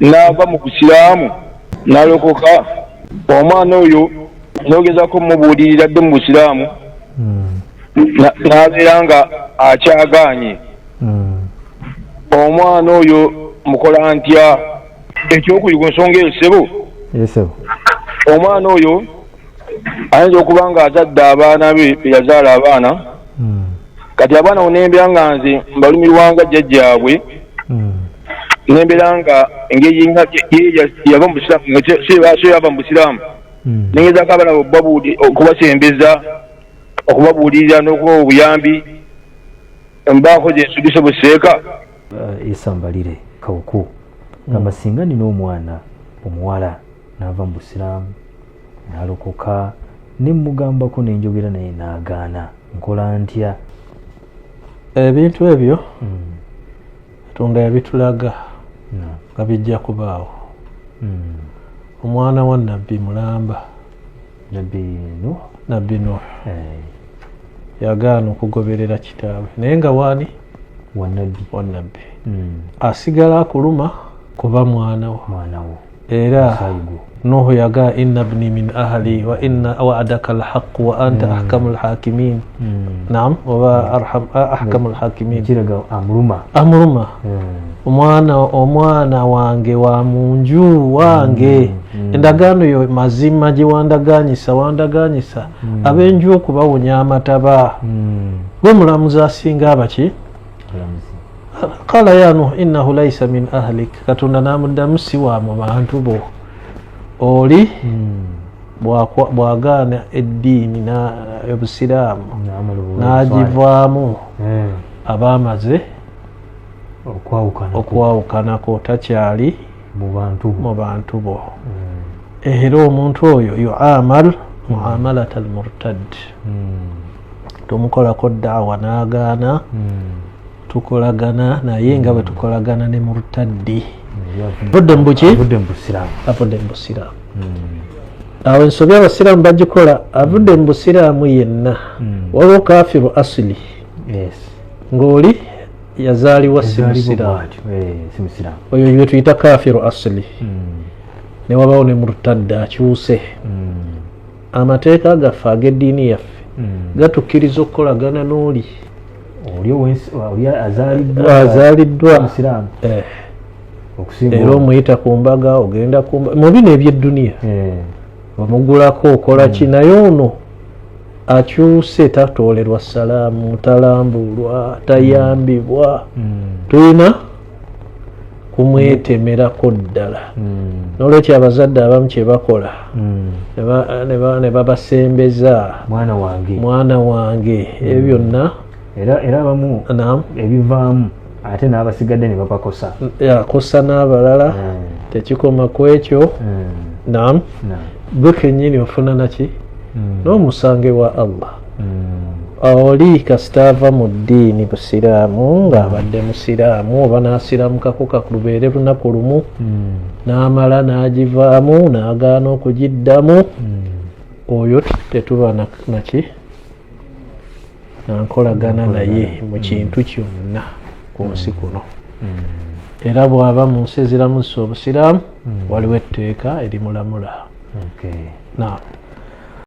n'ava mu busiraamu n'alokoka omwana oyo n'ogezaako mumubuulirira dde mu busiraamu n'abeera nga akyagaanye omwana oyo mukola ntya ekyokuli ku nsonga eyo ssebo omwana oyo ayinza okuba nga azadde abaana be beyazaala abaana hmm. kati abaana onembeera nga nze mbalumirwanga jjajjaabwe hmm. nembera nga engeri nga yava mu busiraamu nga kyebaso yava mu busiraamu hmm. nengezako abana obubabuuli okubasembeza okubabuulirira n'okuba obuyambi mbaako gyensugise buseeka eh, esambalire kawuku gamba singa nina omwana omuwala naava mu busiraamu nalokoka nemugambako nenjogera naye nagaana nkola ntya ebintu ebyo hmm. katonda yabitulaga hmm. nga bijja kubaawo hmm. omwana wa nabbi mulamba nabbi nuh eh. yagaana okugoberera kitaawe naye nga waani wanabbi hmm. asigala akuluma kuba mwanawo era nuhu yaga inna bni min ahli wa inna waadaka alhaqu wa anta hmm. ahkamu lhakimin hmm. nam oba ahkamu lhakimin amuluma omwana omwana wange wa munju wange endagaano yo mazima gye wandaganyisa wandaganyisa abenju okubawonya amataba gwe mulamuzi asinga abaki kala ya nuh innahu laisa min ahlik katonda namuddamu si wa mu bantu bo oli hmm. bwagaana eddiini obusiraamu nagivaamu hmm. aba amaze okwawukanako takyali mu bantu bo hmm. era omuntu oyo yuamal muamalat almurtad tumukolako daawa n'agaana hmm. tukolagana naye nga bwe tukolagana ne murtaddi budde mubukibudde mubusiraamu awo ensobi abasiraamu bagikola avudde mu busiraamu yenna hmm. waliwo kafiru asili ng'oli yazaalibwa si musiraamu oyo gwe tuyita kafiru asili hmm. newabawo ne murtadda akyuse hmm. amateeka gaffe ag'eddiini yaffe hmm. gatukkiriza okukolagana n'oli azaliddwa eh. era omuyita ku mbaga ogenda mu bino ebyedduniya eh. omugulako okola ki hmm. naye ono akyuse tatoolerwa salaamu talambulwa tayambibwa hmm. tulina kumwetemerako ddala hmm. nolwekyo abazadde abamu kyebakola hmm. ne babasembeza mwana wange mwana wange ebyo hmm. byonna era abamu ebivaamu ate n'abasigadde ne babakosa akosa n'abalala tekikoma ku ekyo nam gwe kenyini ofuna naki n'omusange wa allah oli kasita ava mu ddiini busiraamu ng'abadde musiraamu oba n'asiraamukako kalubeere lunaku lumu hmm. n'amala n'agivaamu n'agaana okugiddamu hmm. oyo tetuba naki nankolagana naye mu hmm. kintu kyonna ku nsi kuno era bw'aba mu nsi eziramusa obusiraamu waliwo etteeka erimulamula